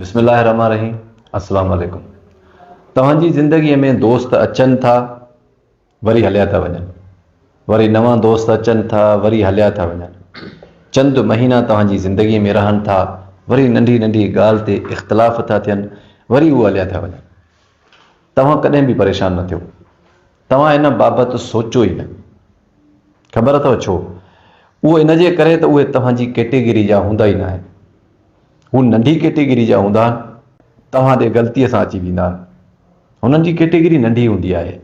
بسم الله الرحمٰن الرحيم السلام عليڪم توهان جي زندگي ۾ دوست اچن ٿا وري هليا ٿا وڃن وري نوان دوست اچن ٿا وري هليا ٿا وڃن چند مهينا توهان جي زندگي ۾ رهن ٿا وري ننڍي ننڍي ڳالهه تي اختلاف ٿا ٿين وري هو هليا ٿا وڃن توهان ڪڏهن به پريشان نه ٿيو توهان ان بابت سوچيو ئي نه. خبر اٿو ڇو؟ اهو ان جي ڪري ته اهي توهان جي ڪيٽيگري جا هوندا ئي ناهن. هو ننڍي ڪيٽيگري جا هوندا آهن. توهان ڏي غلطيء سان اچي ويندا آهن. هنن جي ڪيٽيگري ننڍي هوندي آهي.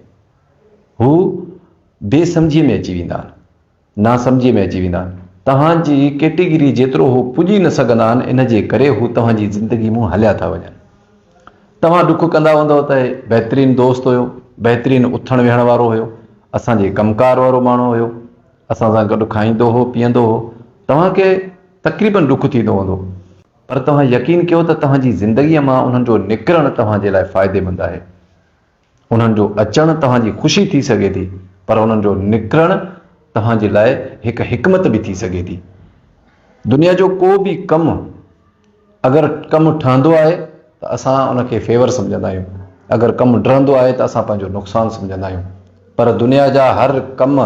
هو بي سمجهيء ۾ اچي ويندا آهن. ناسمجهي ۾ اچي ويندا آهن. توهان جي ڪيٽيگري جيترو هو پڄي نه سگهندا آهن ان جي ڪري هو توهان جي زندگي مون هليا ٿا وڃن. توهان ڏک ڪندا هوندؤ ته هي بهترين دوست هيو، بهترين اٿڻ ويهڻ وارو هيو، اسان جي ڪم ڪار وارو ماڻهو هيو، اسان سان گڏ کائيندو هو پيئندو هو، توهان کي تقريبن ڏک ٿيندو هوندو. پر توهان يقين ڪيو ته توهان جي زندگي مان انهن جو نڪرڻ توهان جي لاء فائديمند آهي. انهن جو اچڻ توهان جي خوشي ٿي سگهي ٿي پر انهن جو نڪرڻ توهان جي لاء هڪ حڪمت به ٿي سگهي ٿي. دنيا جو ڪو به ڪم اگر ڪم ٺهندو آهي ته اسان ان کي فيور سمجهندا آهيون اگر ڪم ڊهندو آهي ته اسان پنهنجو نقصان سمجهندا آهيون پر دنيا جا هر ڪم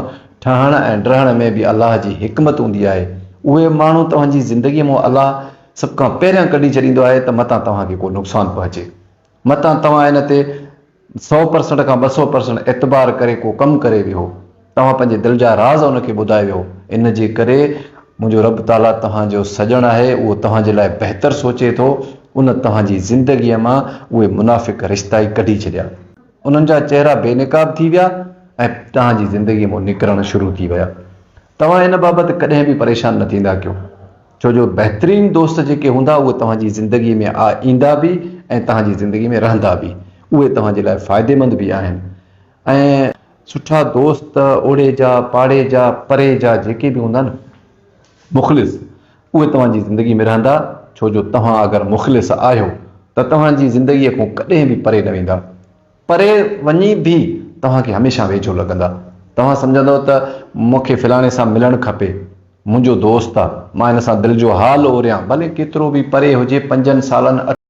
ٺهڻ ۽ ڊهڻ ۾ به الله جي حڪمت هوندي آهي اهي ماڻهو توهان جي زندگي مون الله سڀ کان پهريان ڪڍي ڇڏيندو آهي ته متان توهان کي ڪو نقصان پهچي. متان توهان ان تي سؤ پرسنٽ کان ٻه سؤ پرسنٽ اعتبار ڪري ڪو ڪم ڪري ويهو. توهان پنهنجي دل جا راز ان کي ٻڌائي ويهو. ان جي ڪري منهنجو رب تعاليٰ توهان جو سڄڻ آهي، اهو توهان جي لاء بهتر سوچي ٿو. ان توهان جي زندگيء مان اهي منافق رشتا ئي ڪڍي ڇڏيا. انهن جا چهرا بي نقاب ٿي ويا ۽ توهان جي زندگيء مان نڪرڻ شروع ٿي ويا. توهان ان بابت ڪڏهن به پريشان نه ٿيندا ڪيو ڇو جو بهترين دوست جيڪي هوندا اهي توهان جي زندگي ۾ آ ايندا به ۽ توهان جي زندگي ۾ رهندا به اهي توهان جي لاء فائديمند به آهن ۽ سٺا دوست اوڙي جا پاڙي جا پري جا جيڪي به هوندا نه مخلص اهي توهان جي زندگي ۾ رهندا ڇو جو توهان اگر مخلص آهيو ته توهان جي زندگي کون ڪڏهن به پري نه ويندا. پري وڃي به توهان کي هميشه ويجهو لڳندا. توهان سمجهندؤ ته مون کي فلاڻي سان ملڻ کپي. منهنجو دوست آ. مان هن سان دل جو حال اوريان. ڀلي ڪيترو به پري هجي، پنجن سالن، اٺن.